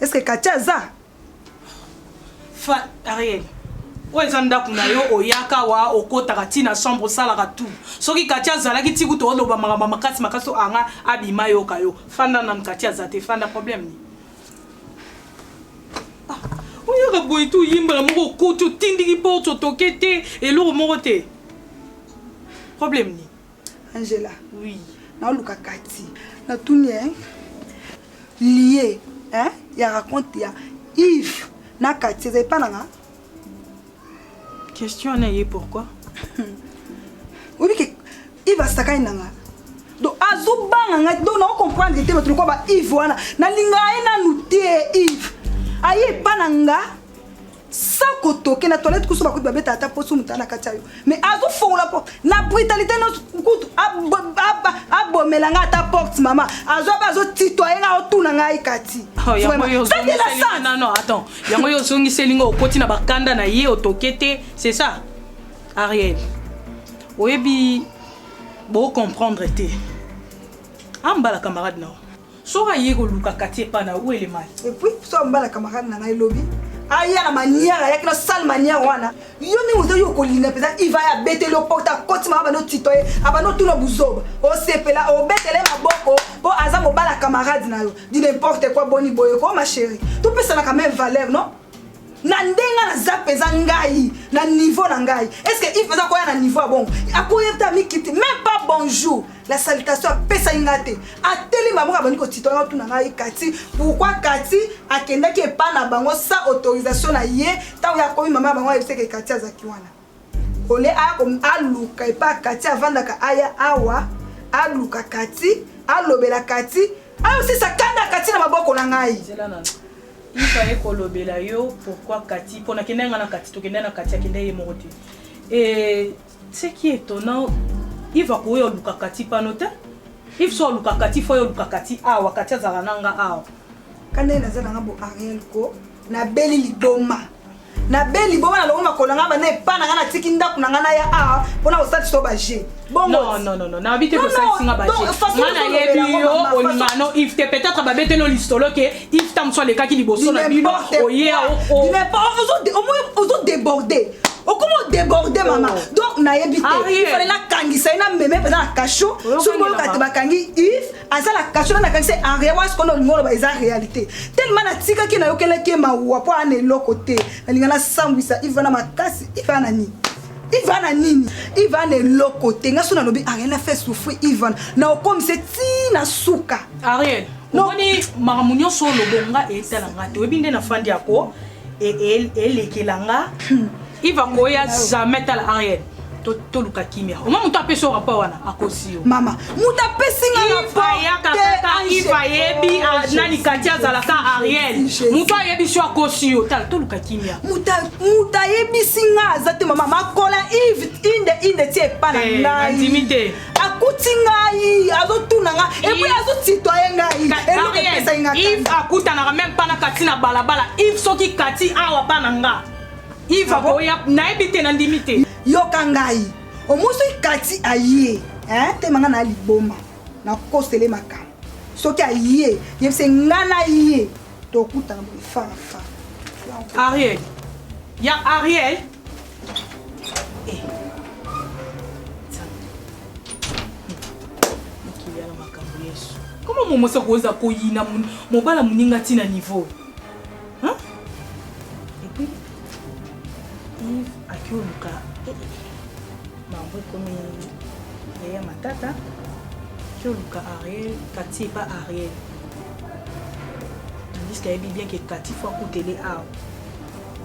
Est-ce que Katia aza? Fa Ariel. oyo eza ndako na yo oyaka wa okotaka ti na chambre osalaka tout soki kati azalaki ti kutu oloba makambo makasi makasi to anga abima yoka yo fanda nanu kati aza te fanda problème ni ah, oyaka boye ti oyimbala moko okoti otindiki porte otoke te eloko moko te problème ni Angela. Oui. Na luka kati. Na tuni hein. Lié hein ya raconte ya Yves na kati ezali pa nanga. Question na ye pourquoi? Obi ke Yves asakani nanga. Donc azo banga ngai donc na comprendre te bato lokola ba Yves wana na linga ye nanu te Yves. Aye pa nanga. sans kotoke na toilette kusu bakuti babeta ata poso moto na kati ya yo mais azofongola po na brutalité nyonso kutu abomela ngai ata porte mama azwa mpe azotitoye ngai otuna ngai kati oh, yango yo ozongiseli ngai okoti na bakanda na ye otoke te c'est ça ariel oyebi bocomprendre te ambala camarade nao Soki aye koluka kati epa na où elle mal. Et puis so mbala camarade na ngai lobi aya na manière ayaki na sale manière wana yo ndenge oza yo okolinda mpenza iva ya abeteli yo porte akoti mama bando tito ye abando tuna buzoba osepela obetele maboko mpo aza mobala camarade na yo di n'importe quoi boni boye ko ma chérie topesanaka même valeur non na ndenge naza mpenza ngai na niveau na ngai estce ive aza koya na niveau ya bongo akoya te amikiti meme pas bonjour la salutation apesaki ngai te atelemi bango abandi kotitola otuna ngai kati pourkui kati akendaki epai na bango sa autorisation na ye ntango ye akomi mama ya bango ayebisaki kati azalaki wana Au lieu aya ko aluka epa Cathy avandaka aya awa aluka Cathy alobela Cathy ayo sisa kanda Cathy na maboko na ngai. Zela na ifa ye kolobela yo pourquoi Cathy pona kenda nga na Cathy tokenda na Cathy akenda ye moko te. Et ce qui est étonnant Yves akoya oluka Cathy pano te. Yves so oluka Cathy fo oluka Cathy awa Cathy azala na nga awa. Kanda ye naza na nga bo Ariel ko nabeli liboma. nabeli boma nalongo makolo nanga bana epa nanga natiki ndako nanga naya awa mpona kosalisa yo baje bongonayebi yo olingano ive te peut-être babeteli yo lisolo ke ive ta mosu alekaki liboso na bino oyeaozodeborde okoma odeborde mama oh. donc nayebi te ifale nakangisa ye na meme mpenza na kasho soki boyoka te bakangi ive aza na kasho nani akangisa en rien wana sikoyo olingi oloba eza réalité tellement natikaki nayokelaki ye mawa mpo ana eloko te nalinga nasambwisa ivana makasi ivana nini ivana nini ivana eloko te nga so nalobi ariel na fait souffrir ivana na okomise ti na suka ariel omoni makambo nyonso olobonga etala nga te oyebi nde nafandi yako elekela nga iva koya jamais tala henriette toluka kimia oma moto apesi yo rapport wana akosi yo mama moto apesi ngaiva yebi ah, nani kati azalaka ariel moto ayebisi yo akosi yo tala toluka kimia moto ayebisi nga aza te mama makola ive inde inde ti epa na eh, ngai akuti ngai azotuna nga epui azotitoye ngai eloko epesaki nga ive akutanaka meme mpa na kati na balabala ive soki kati awa mpa na nga ive ah akoya nayebi te nandimi te yoka ngai omosoki kati aye tema nga na liboma nakosele makambo soki aye yebise nga na ye tokutana boye farafa ariel ya ariel koma momosi akoza koyina mobala moninga ntina niveau epuis ive akioluka eh, eh, eh. bango ekomi yaya matata akioluka ariel kati epa ariel tandiske ayebi bien ke kati fo akutele awa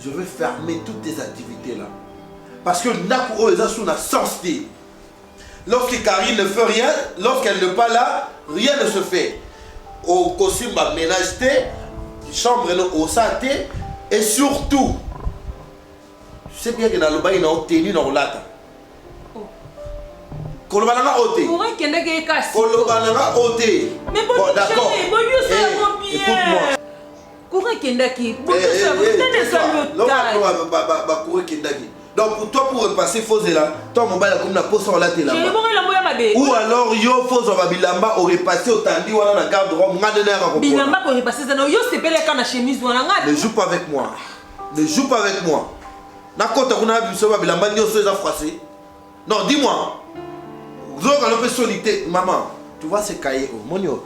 Je vais fermer toutes tes activités là. Parce que ndaku oyo eza sous na sens te. Lorsque Karine ne fait rien, lorsqu'elle n'est pas là, rien ne se fait. Au costume ba ménage te, chambre no osa te et surtout tu sais bien que na lobai na otenu na olata. koloba na nga oyo te okendaki ye kasi koloba na nga oyo te Mais bon, Bon, d'accord. chérie, bon, yo, ça va Eh, bien. écoute-moi. Courant ekendaki. Bakura ekendaki. Donc pour toi pour repasser faut zela toi mobali akomi na posa olatela. Ou alors yo faut zwa bilamba o repasser otandi wana na garde robe nga nde nayaka ko. Bilamba ko repasser zana yo sepeleka na chemise wana nga. Ne joue pas avec moi. Ne joue pas avec moi. nakota kuna na biso ba bilamba nyonso eza froissé non dis-moi zokalo mpe soni te mama tu vois ce cahier omoni oyo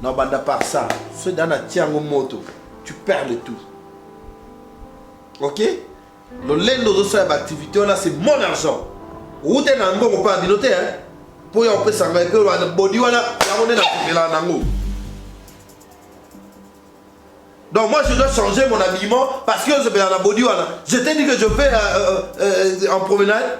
Na banda par ça, ce dans na tiango moto, tu perds le tout. OK? Lolendo zo sala ba activité wana c'est mon argent. Route na ngo ko pa binote hein. Po ya opesa ngai pe wana body wana yango nde na kopela na ngo. Donc moi je dois changer mon habillement parce que je vais à la body wana. Je t'ai dit que je vais euh, euh, euh, en promenade.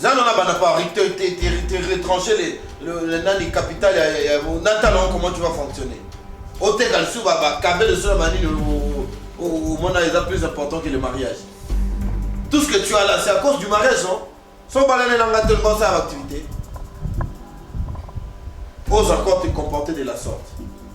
Zana na bana Paris, te, te, te, te retrancher les, le, le nani capital ya, ya, ya na talon comment tu vas fonctionner. Oteka lisusu ba ba kabe de solo manini au mona eza plus important que le mariage. Tout ce que tu as là, c'est à cause du mariage, non? Sans balaner dans la tellement ça activité. Ose encore te comporter de la sorte.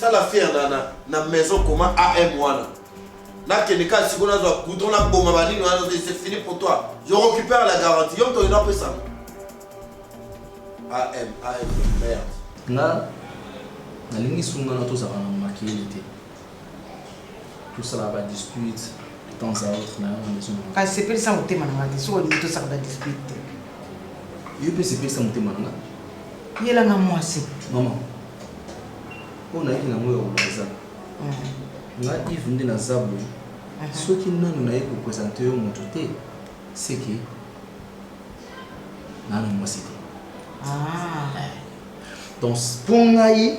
sala fier na, na, na maison koma am wana nakende kaka siko nazwa goudron naboma banini wana c'est fini pour toi je récupère la garantie yo moto oyo napesanga am am merde nga nalingi sungana tozala na makili te tosalaka ba dispute de temps à autre na yango nde ezomona kasi sepelisa motema na ngai te soki olingi tosaka ba dispute te yo mpe sepelisa motema na ngai yelanga mwasi mama oyo nayaki nango ya kobaza mm. nga ive nde naza boye mhm. soki nanu naye kopresente yo moto te seke nanu mwasi te ah. Donc mpo ngai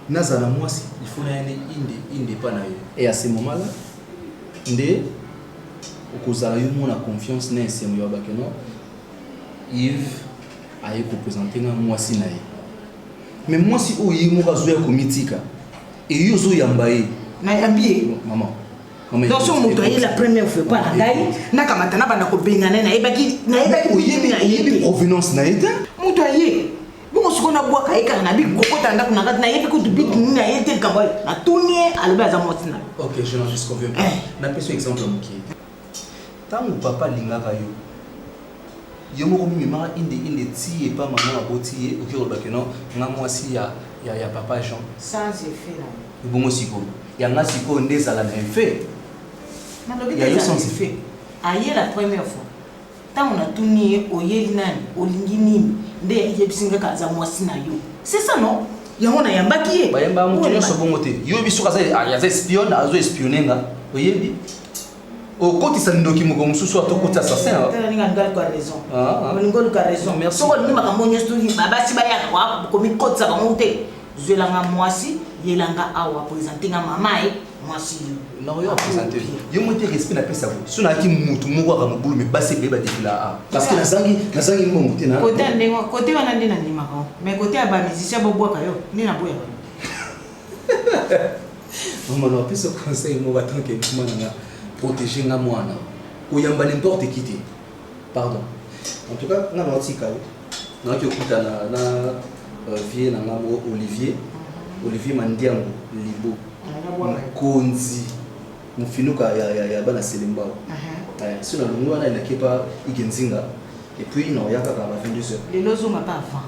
nazala mwasi il faut naya nde inde inde epa na yo et à ce moment là nde okozala yo mona confiance na esengo ya bato no yves aye kopresente nga mwasi na ye me mwasi oyo ye moko azoya komitika eye ozoyamba ye nayambi ye mama donc so moto aye la première fois epa na ngai nakamata nabanda kobengana ye nayebaki nayebi provenance na ye te moto aye bongo siko nabwaka ye kaka nabi kokota ndako na kati nayebi kutu biki nini aye te likambo natuni ye alobi aza mwasi na ok je n'en suis convaincu eh. napesi exemple moke ntango papa alingaka yo yo moko mimema inde inde ti epa maman aboti ye oke koloba que non nga mwasi ya ya ya papa Jean sans effet na ebongo sikoyo ya nga sikoyo nde ezala na effet ya yo sans effet aye la première fois ntango natuni ye oyeli nani olingi nini nde yebisi nga kaza mwasi na yo c'est ça non yango nayambaki ye bayamba moto nyonso bongo te yo yebi soki aza espion azo espionne nga oyebi okotisa ndoki moko mosusu ata okoti assassin olingi oluka raison ah, ah. olingi oluka raison soki olingi makambo nyonso basi bayaka komikotisa bango te zwelanga mwasi yelanga awa présente nga mama ye mwasi yo yo moko te respect napesa ko so nayaki motu moko aka mobulu me basi ebele badefila a parce que nazangi nazangi mbongo te kote ndenge kote wana nde nandimaka mais kote ya bamusicien bobwaka yo nde naboyaka maman na biso conseil moko tant que mwana nga protéger nga mwana koyamba n'importe qui te pardon en tout cas nga naotika yo naoki okutana na euh, vie na nga moko olivier olivier mandiango libo mokonzi mofinuka ya, ya, ya bana selembao uh -huh. eh, so nalongi wana elaki epa igenzinga epuis naoya kaka ba 22 heures lelo ozonga pa avant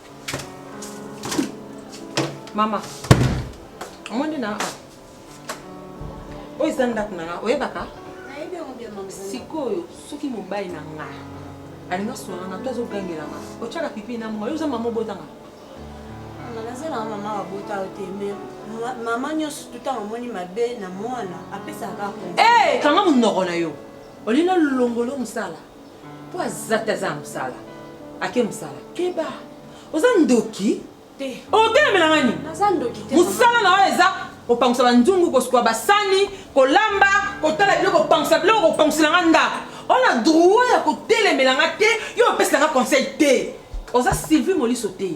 Mama, omoni na awa oyo eza ndako na nga oyebaka sikoyo soki mobali na nga alinga swana na to azogangela nga otyaka pipi na monga yo oza mama obotanga nazalaka mama babota yo te me mama nyonso tutango omoni mabe na mwana apesaka kanga monoko na yo olinga longolo mosala po aza te aza na mosala ake mosala keba oza ndoki te otelemela nga nini naza ndoki te mosala na oyo eza kopangusa banzungu kosukola basani kolamba kotala biloko kopangusa biloko kopangusela nga ndako ona droit ya kotelemela nga te yo opesela nga conseil te oza sylvie moliso te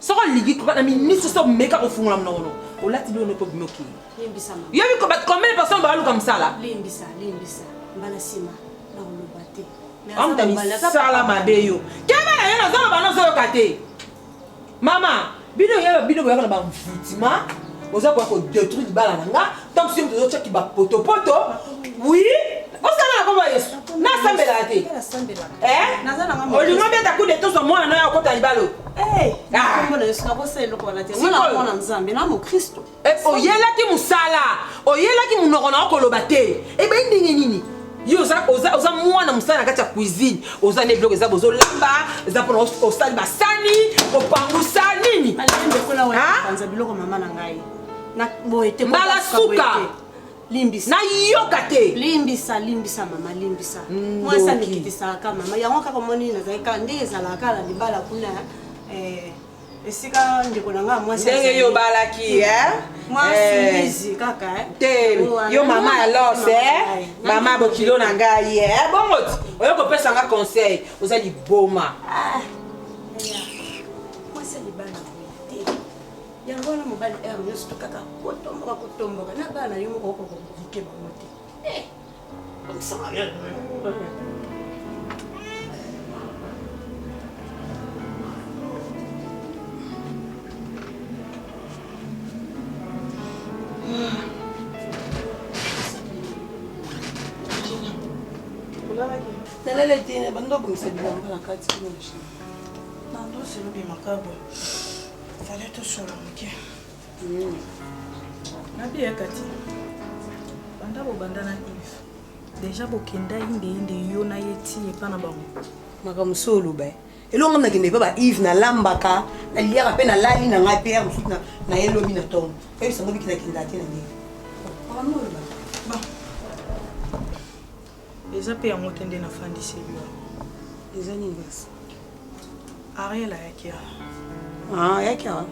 Soko oligi kuba na minisi so meka kofungola mnoko no. Olati bilo noko bino ki. Limbisa mama. Yo biko bat combien de personnes ba luka msala? Limbisa, limbisa. Mbala sima na oloba te. Amta misala mabe yo. Kema na yo na zolo bana zolo kate. Mama, bino yeba bino boyaka na ba mvutima. Oza kwa ko détruire bala na nga. Tant que nous avons ba poto poto, oui, osala na kombo ya yesu nasambelaka te eh? olingo beta coup de tozo mwana na yo akota libalo eh, ah. eh, oyelaki mosala oyelaki monoko na yo koloba te ebei ndenge nini yo oza, oza, oza mwana mosala na kati ya cuisine oza nde biloko eza bozolamba eza mpona osali basani opangusa nini na boye te mbala suka limbisa nayoka te limbisa limbisa mama limbisa mm, mwasi amikitisaka mama yango kaka omoni nazali kaka nde ezalaka kaka na libala kuna eh, esika ndeko na ngai mwasi ndenge yo obalaki eh? mwasi eh. mbizi kaka te yo mama ya los mama bokilo na ngai bongo oyo kopesa nga conseil oza liboma ah. yango wana mobali heure nyonso tokaka kotomboka kotomboka na bana yo moko okokoke bango te eh, nalala etene bando obongisa bilamba na kati kuna na ndosi lobi makabo Zala tosolo moke. Mm. Nabi ya kati. Banda bobanda na Yves. Deja bokenda inde inde yo na ye ti epa na bango. Makambo so oloba ye. elongo nga nakende epa ba ive nalambaka naliaka mpe nalali na ngai mpe ya mosusu na ye lobi na ntongo oyebisa ngo biki nakenda te na ndenge makambo oloba Eza pe yango te nde nafandisi yo. Eza nini basi? Ariel ayaki awa. Ah, ayaki awa.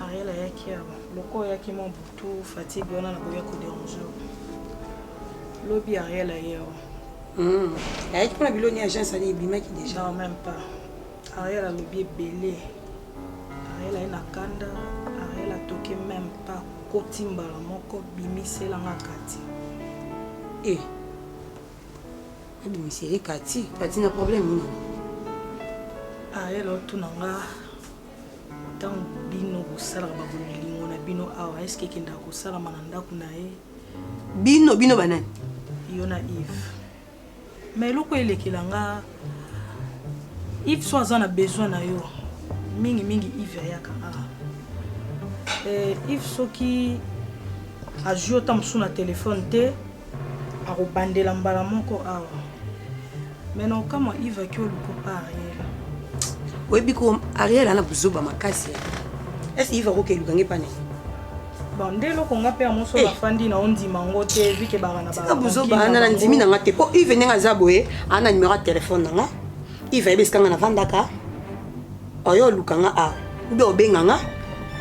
Ariel ayaki awa. Loko ayaki mwa butu fatigue wana nakoya ko déranger. Lobi Ariel aye awa. Hmm. Ayaki pona biloni agence ani ebimaki déjà. Non, même pas. Ariel alobi ebele Ariel aye na kanda Ariel atoke meme pas koti mbala moko bimisela nga kati eh abimiseli kati kati na problème nini Ariel otuna nga ntango bino bosalaka babolingo na bino awa eske ekendaka kosalama na ndako na ye bino bino banani yo na Yves Mais eloko elekela nga Yves soit aza na besoin na yo mingi mingi Yves ayaka awa eh, Yves soki azwi yo ta mosusu na telefone te akobandela mbala moko awa mais na okamwa Yves aki oluka pa Ariel oyebi ko Ariel ana buzoba makasi est-ce Yves akokeluka nge pa nini bande eloko nga mpe ya moso eh. nafandi na ondima yango te vike baka na tika buzoba ana na ndimi na nga te mpo ive ndenge aza boye ana na numero ya telefone na nga ive ayebi esika nga nafandaka oyo oluka nga a ube obenga nga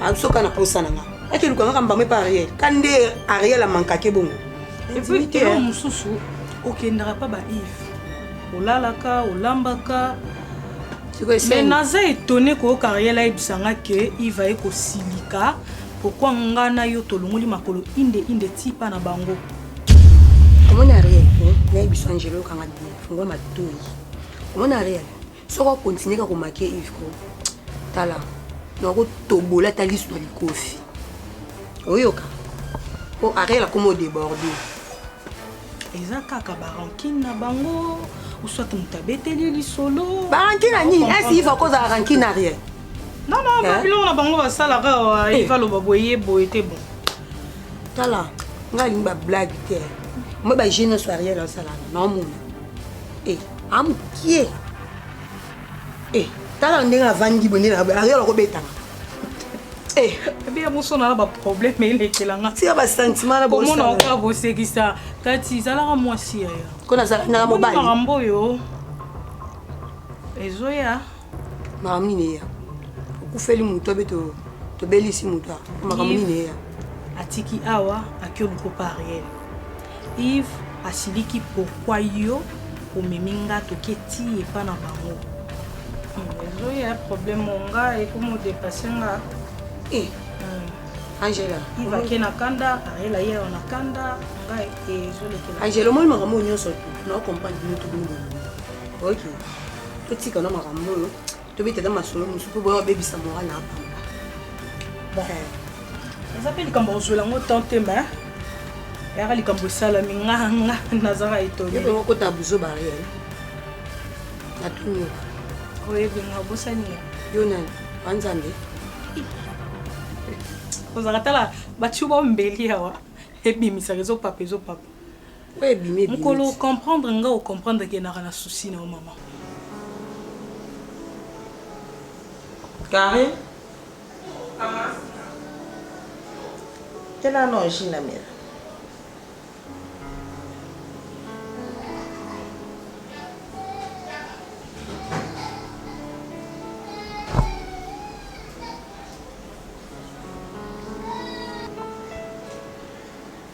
asoka na posa na nga ake oluka nga kambamo epa ariel ka nde ariel amankake bongo epikelo mosusu okendaka mpa ba ive olalaka olambaka mais naza etone koyoka riel ayebisa nga ke iva ye kosilika pourkui nga na yo tolongoli makolo inde inde ti pa na bango omoni ariel nayebisa angelo yokanga fungwa matoi omoni ariel soki akontinue ka komake ivko tala nakotobola ata lisu na likofi oyoka po ariel akoma odeborde eza kaka barankine na bango uswat moto abeteli lisolo barankine na nini esi iva kozala rankine na rien nana eh? babiloko na bango basalaka awa eh. iva loba boye boye te bon tala ngai alingi bablage te moi baje nyonso ya rien asalaka naomona e amokie e tala ndenge avandi boye nde ariel akobetaka Eh. ebeya mosona na baproblème elekela nga tika basentiment na komona oka bosekisa tati ezalaka mwasi yaya ko nazalaka mobali makambo oyo ezoya makambo nini eya okufeli moto abe tobelisi moto makambo nini eya atiki awa akio lukopa ariele Yves asiliki pourquoi yo omemi nga toke ti epa na bango ezoya problème onga ekomo dépasse nga eh. hmm. angela iva ake na kanda arela ye ayo na kanda nga ezolekela angela omoni makambo oyo nyonso na ocomprendre bino tobino bolingo oyoki totika na makambo oyo tobeta na masolo mosusu mpo boya babebisa moral na apamba eh. eza mpe likambo kozwela yango temps te ma yaka likambo esalami nganga nazaka etoniokota buzo bariel natuyoka oyebi nga obosani nga yo nani banzambe ozalaka tala batiyo baombeli awa ebimisaka ezopapa ezopapa Oyo ebimi ebimi. Mukolo o comprendre nga o comprendre ke naka na souci na yo maman. Carine. Maman. Tena no jus na mela.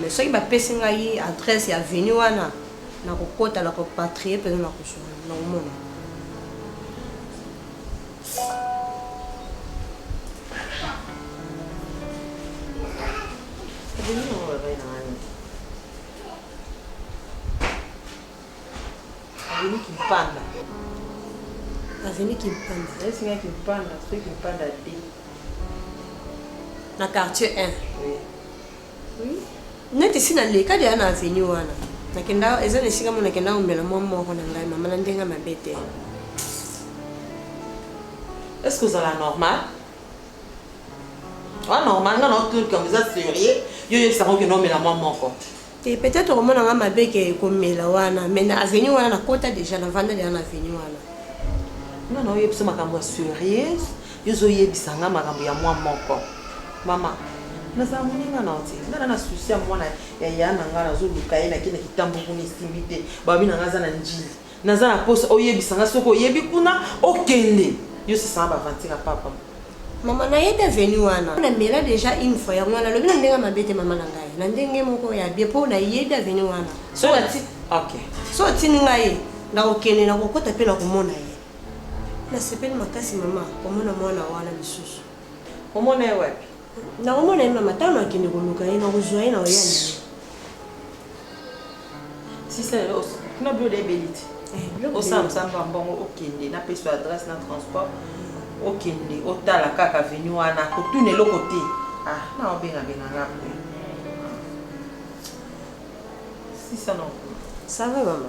Mais soki ba pesi ngai adresse ya avenue wana nako kota nako patrie pena nako zua yango nako mona. Azemi kimpanda. Azemi kimpanda. Azemi singa kimpanda, soki kimpanda te. Na quartier 1. Oui. Oui. Neti si na leka dia na avenue wana. Nakenda eza na esika mona kenda omela mwa moko na ngai mama na ndenge mabe te. Est-ce que ozala normal? Wa normal nga na otuki comme ça sérieux. Yo yebisa ngo kenda omela mwa moko. Te peut etre okomona nga mabe ke komela wana mais na avenue wana na kota dejà na vanda dejà na avenue wana. Nga nao yebiso makambo ya serieux yo ozo yebisa nga makambo ya mwa moko maman nazala moninga nao te nga na na souci ya mwana ya ya na nga nazo luka ye na ke na kitambo kuna esimbi te balobi na nga aza na ndjili Naza na posa oyebisa nga soki oyebi kuna okende yo sasa na baventure ya papa. Mama na ye te venu wana na mela deja une fois yango wana lobi na ndenge mabe te mama na ngai na ndenge moko ya bien po na yebi aveni wana so na ti okay so tini ngai na kokende na kokota pe na komona ye na sepeli makasi mama komona mwana wana lisusu omona ye wapi Nakomona ye mama ntango nakende koluka ye nakozwa ye na oya na ye. Sisa lelo os- kuna biloko ebeli ti Eh, biloko osala ebeli. mosala mwa mbongo okende napesa yo adresse na transport okende otala kaka venu wana kotuna eloko te ah na obengabenga nga boye sisa na Ça va maman?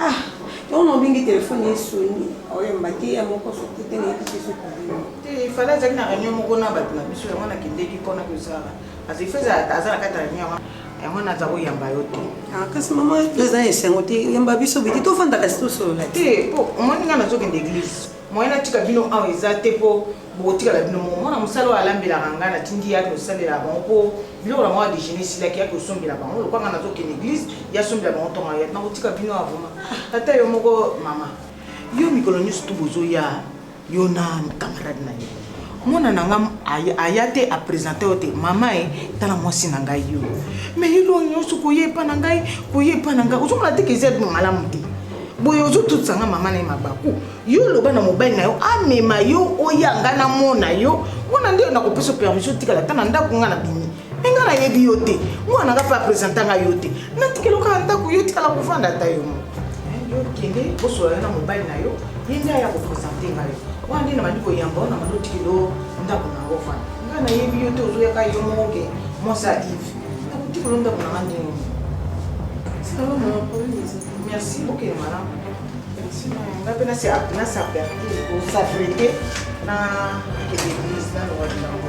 Ah, yango na obingi telefone esoni oyamba te ya moko soki te nayebi te soki obima te ifale azali na réunion moko na bato na biso yango nakendeki mpona kozala azali feza aza na kati ya réunion yango yango naza koyamba yo te ah, kasi mama eza na esengo te yamba biso biki tofandaka si tosolola te mpo omoni ngai nazokende église Moyen na tika bino awa eza te po bokotikala bino moko. Mwana mosala oyo alambelaka nga na tindi ye ake kosalela bango po biloko na bango ya dejeuner esilaki ake kosombela bango lokola nga nazo kende eglise ye asombela bango tongo ayaki. Nako tika bino awa vraiment ata yo moko maman. Yo mikolo nioso tout bozo ya yo na camarade na yo. mwana na nga aya te apresente yo te mama e tala mwasi na ngai yo me yelo nyonso koya epa na ngai koya epa na ngai ozomona te keza bino malamu te boye ozotutisa nga mama na ye mabaku yo oloba na mobali na yo amema yo oya nga namona yo wana nde nakopesa permission otikala ata na ndako nga na bimi me nga nayebi yo te mwana nga mpe apresenta nga yo te natikelo kaka ndako yo tikala kovanda ata yo moko yo kende bosolana na mobali na yo ye nde aya kopresente nga yo wana nde na bandi koyamba yo na bandi otikelo ndako na yango fana nga nayebi yo te ozoyaka yo moko ke mwasi ya ive nakotikelo ndako na nga ndenge moko merci okende malamu nga mpe nasaperti kosaprete na kende eglise na lowa lilango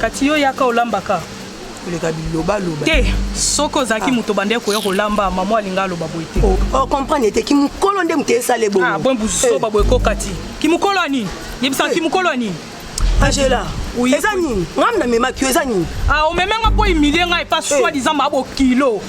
kati yo yaka olambaka koleka bilobaloba te soki ozalaki ah. moto bande koya kolamba mama alinga aloba boye te ocomprendre oh, oh, te kimokolo nde moto esala ebongo ah, bon buzoba eh. boye kokati kimokolo ya nini yebisaka eh. kimokolo ya nini angela eza nini ngai namemaki yo eza nini ah, omeme nga mpo humilie ngai epa eh. soi disant mabo kilo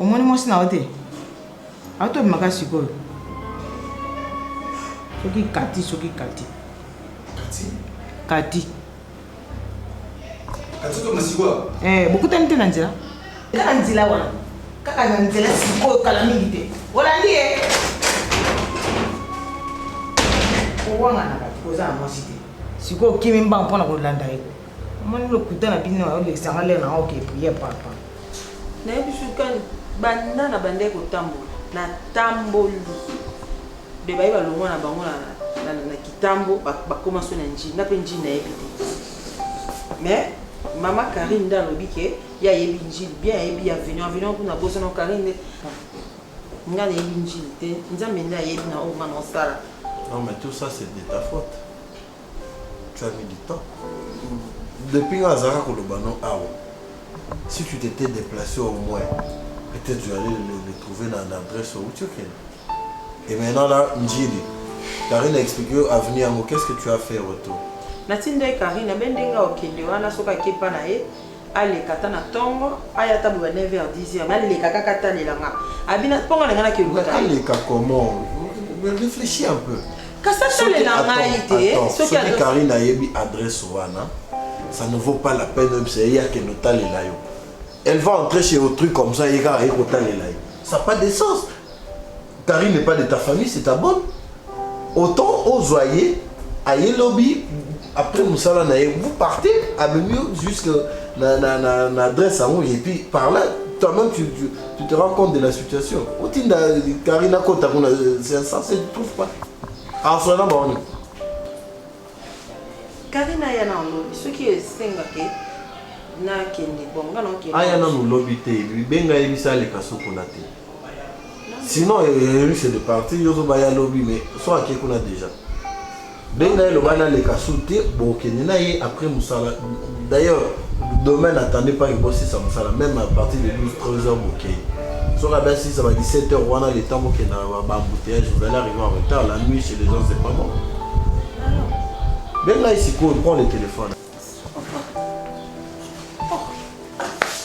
omoni mwasi na yo te atomimaka sikoyo soki kati soki kati kati Katoto masiwa. Eh, bokutani te na nzela? Kaka nzela wana. Kaka na nzela sikoyo kala mingi te. Olandi ye. Owanga na bato koza na mwasi te. Sikoyo kimi mbanga mpo na kolanda ye. Omoni lokuta na bino oyo lekisanga lere na oke priye papa. Nayebi sukani banda na bandai kotambola natamboli Be baye balongwa na bango na, na, na kitambo bakoma so na njini nga pe njini nayebi te mais mama Karine nde alobi ke ye ayebi njini bien ayebi ya vino vino kuna bosana Karine nde nga nayebi njini te nzambe nde ayebi na oyo nga naosala non mais tout ça c'est de ta faute Tu as mis du temps. Depuis nga azaka koloba no awa. Si tu t'étais déplacé au moins, peut-être tu allais le, le trouver dans l'adresse où tu es. Et maintenant là, Ndjili, Karine a expliqué avenir yango, qu'est-ce que tu as fait retour? Natindaki Karine, abe ndenge okende wana soki akepa na ye, aleka ata na tongo aya ata boba 9 heures 10 heures mais aleka kaka atalela nga abina mpo nga nanga nakeluta aleka comment réfléchis un peu kasi atalela ngai te soki karine ayebi adresse wana ça ne vaut pas la peine oyebisa ye akende otalela yo elle va entrer chez autrui comme ça ye kaka ye kotalela ye ça pas de sens Carine n'est pas de ta famille c'est ta bonne autant ozwa ye aye lobi après mosala na ye vous partez amemi yo jusque na, na, na, na adresse yango et puis par là toi-même tu, tu, tu te rends compte de la situation otinda carine akota kuna c'est ça se trouve pas aswa na baoni carine aya na lobi soki esengake nakende bonga nakende aya nanu lobi te benga ye bisa aleka sokona te sinon yayeli c'est le parti yo ozoba ya lobi mais so ake kuna déjà benga ye loba naleka su te bokende na ye après mosala d'ailleurs demain n'attendez pas que bosisa mosala même à partir de 12 13 heures bokei soki abe asisa ba 17 heures wana le temps bokenda bambouteillage vous allez arriver en retard la nuit chez les gens c'est pas bon benga ye sikoyo prend le téléphone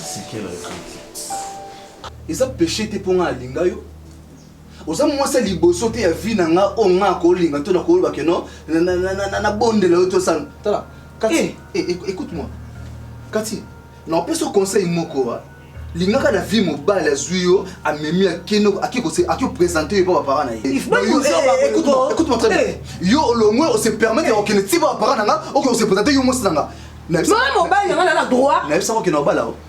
c'est quelle réponse Eza peche te po nga na linga yo oza mwasi ya liboso te ya vie na nga oyo nga na kolinga to na koloba ke no na bondela yo to sala tala kati eh. eh, eh écoute moi kati na opesa conseil moko wa lingaka na vie mobali azwi yo amemi akeno aki opresente yo mpo bapara na ye eh, eh, yo olongwe ose permettre ya kokende ti bapara na nga oke ose presente yo mwasi na nga mobali na nga na droit nayebisaka okende obala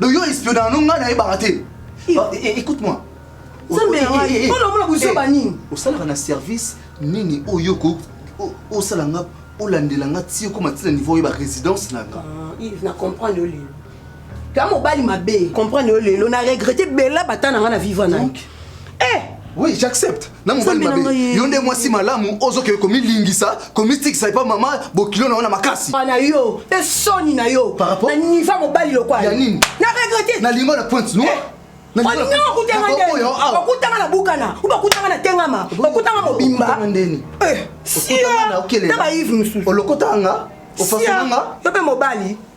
Donc yo espiona na ngai na yebaka te. Ah, eh, eh, écoute-moi. Nzambe ya ngai, mpona omona buzoba nini? Osalaka na service nini oyo ko osala nga olandela nga ti okoma ti na niveau oyeba résidence na nga. Ah, Yves na comprendre yo lelo. Kama mobali mabe. Comprendre yo lelo na regretter bella bata na nga na vivre na. Donc eh! oui j'accepte na mobali mabe yo nde mwasi malamu ozokende komilingisa komitikisa epa mama bokilo na yo na makasi na yo mpe soni na yo na niva mobali lokwala ya nini na regrete na lingo na pointe noire eh! olingi okutanga ndeni okutanga na bukana obe okutanga na tengama okutanga mobimba eh, siyo na baive mosusu olokotanga ofasanga yo mpe mobali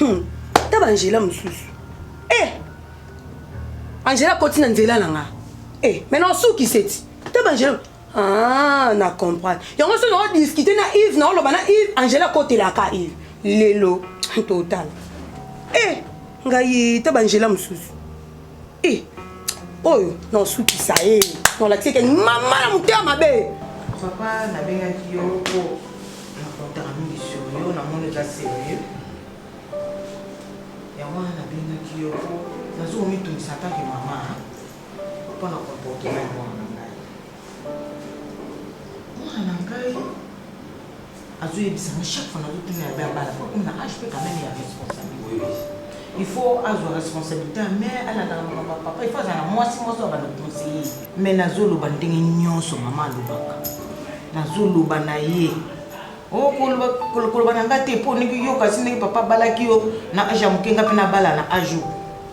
Hum, ta ba Angela mususu. Eh! Angela koti na nzela na nga. Eh, mais na osuki seti. Ta ba Angela. Ah, na comprendre. Yango so na discuter na Yves, na oloba na Yves, Angela kotela ka Yves. Lelo, total. Eh, ngai ta ba Angela mususu. Eh, oyo naosukisa ye eh. nolakisi eke mama na motema mabe papa nabengaki yo mpo nakotaka mingi sur yo namoni oza serieux yango wana nabengaki yo mpo nazo komitungisa atake mama mpo na comportement ya mwana na ngai mwana na ngai azo yebisa nga chaque fois nazo tuna ya bana bana po akomi na age pe quand meme ya responsabilite il faut azwa responsabilite ya mère alandaka makambo ya papa il faut azala na mwasi mwasi oyo abanda conseiller mais nazo loba ndenge nyonso mama alobaka nazo loba na ye Oh, koloba na nga te mpo olingi yoka si ndenge papa abalaki yo na age ya moke nga mpe nabala na age oyo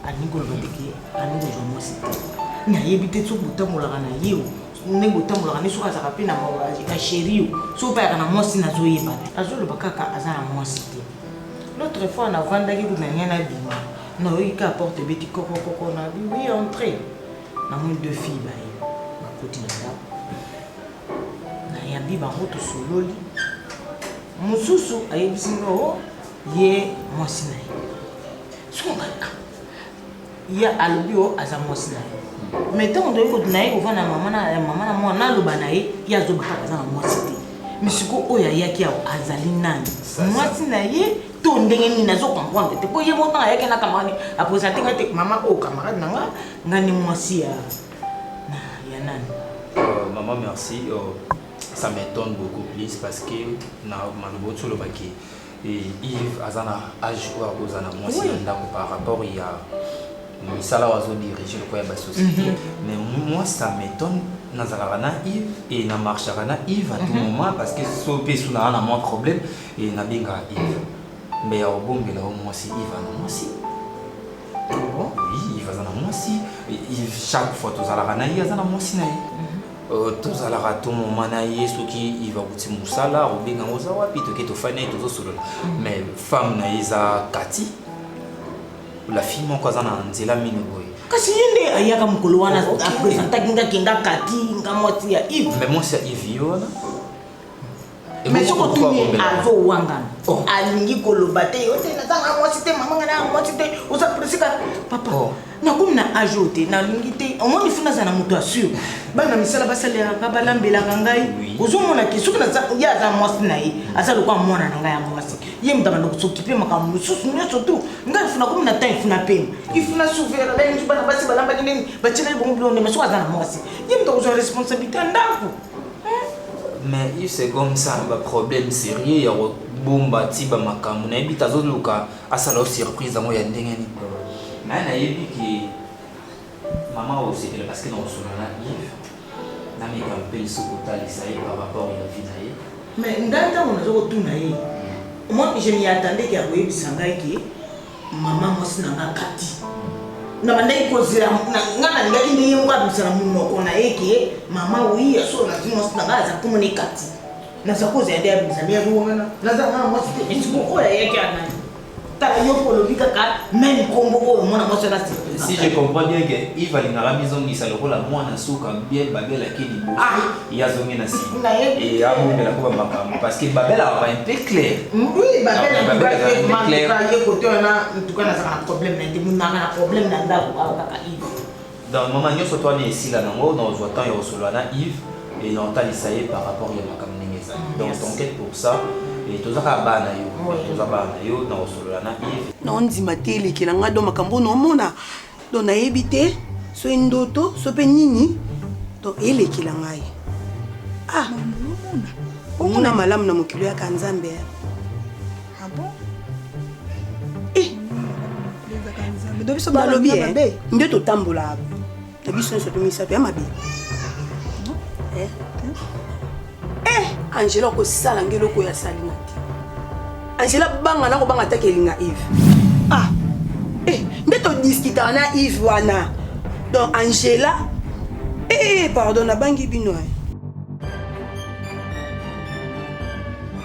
alingi koloba ndeke alingi kozwa mwasi te nayebi te soki botambolaka na ye ndenge otambolaka nde soki azalaka mpe na mawa eka sheri yo soki mpe ayaka na mwasi nazoyeba te azoloba kaka aza na mwasi te l'autre fois navandaki kuna ngai nabima nayoki kaka porte ebeti kokokoko na biwi entre namoni deux fille baye bakoti na ndako nayambi bango tosololi mosusu ayebisi ngo oh, ye mwasi na ye soki ngai ah, ye alobi yo aza mwasi na ye mais ntango toyei kote na ye kovanda na mama na mama na mwana naloba na ye ye azoba kaka aza na mwasi te misiko oyo ayaki awa azali nani mwasi na ye to ndenge nini azo comprendre te mpo ye moko ntango ayaki na camarade apresente ngai te mama oyo oh, camarade na nga nga nde mwasi ya ya nani euh, mama merci euh, ça m'étonne beaucoup plus parce que na maloba otiolobaki Yves aza na age oyo akozala na mwasi na ndako par rapport ya misala oyo azodirige lokola ya basociété mhm. mais moi ça m'étonne nazalaka na ive e na marchaka na ive à tout mhm. moment parce que so mpe esu naa na mwa problème e nabengaka ive mbe ya kobombela yo mwasi ive ana mwasi ah oui ive aza na mwasi ive chaque fois tozalaka na ye aza na mwasi na ye mhm. Euh, tozalaka to moma na ye soki iva kuti mosala obenga ngo oza wapi toke tofani na ye tozosolola mm. mais femme na ye eza kati la fille moko aza na nzela mino boye kasi ye nde ayaka mokolo wana oh, apresentaki nga kenga kati nga mwasi ya ive mais mwasi ya ive ye wana mais soki otuni azowangana oh. alingi koloba te yo te nazanga mwasi te mamanga na mwasi te oza presika papa oh. nakomi na age oyo te nalingi te omoni funa aza na moto ya sur bana misala basalelaka balambelaka ngai ozomona ke soki ye aza mwasi na ye aza lokola mwana na ngai ya mwasi ye moto abanda kosokipe makambo mosusu nyonso tu ngai funa komi na temps ifuna pema ifuna souvera balingi bana basi balambaki ndeni batyelaki bongo bilonde ma soki aza na mwasi ye moto akozwa responsabilité ya ndako Mais il se gomme ça ba problème serieux ya ko bomba ti ba makambu na yebi tazo luka asala yo surprise yango ya ndenge ni mais na yebi ki maman au sepela parce que na osona na Yves na mi ka mpeli sou ko talisa ye par rapport ya vie na ye mais ngai tango nazo ko tuna ye moi je m'y attendais ki akoyebisa ngai ki Mama mwasi na nga kati nabandaki kozela nga nalingaki nde ye moko abimisa na monoko na ye ke mama wi ya solo nazwi mwasi na nga aza komona ekati naza kozela nde abimisa me yango wana naza mwana mwasi te esiko oyo ayaki anani tala yo mpo olobi kaka meme nkombo oyo mwana mwasi wana si je comprends bien ke ive alingaka mizongisa lokola mwana suka bien babelaki liboso ah! ye azongi na nsima e abongela mpo bamakambo parce que babel azalaka un peu clair donc mama nyonso to wana esila nango na ozwa temps ya kosolola na yves e na otalisa ye par rapport ya makambo ndenge ezali mm, donc t'enquête pour ça e toza kaka bana yo toza bana yo na kosolola na yves na ondima te elekela ngai do makambo oyo naomona donc nayebi te soki ndoto so mpe nini donc elekela ngai ah omona malamu na mokili oyaka nzambe eh. ah eh. nalobi eh, nde totambolaka na biso nyonso tomisato ya mabe Eh, Angela okosala nge eloko ya salima te. Angela banga na kobanga ataki elinga Yves. Ah. Eh, nde to discuter na Yves wana. Donc Angela eh, eh, eh pardon nabangi bino eh.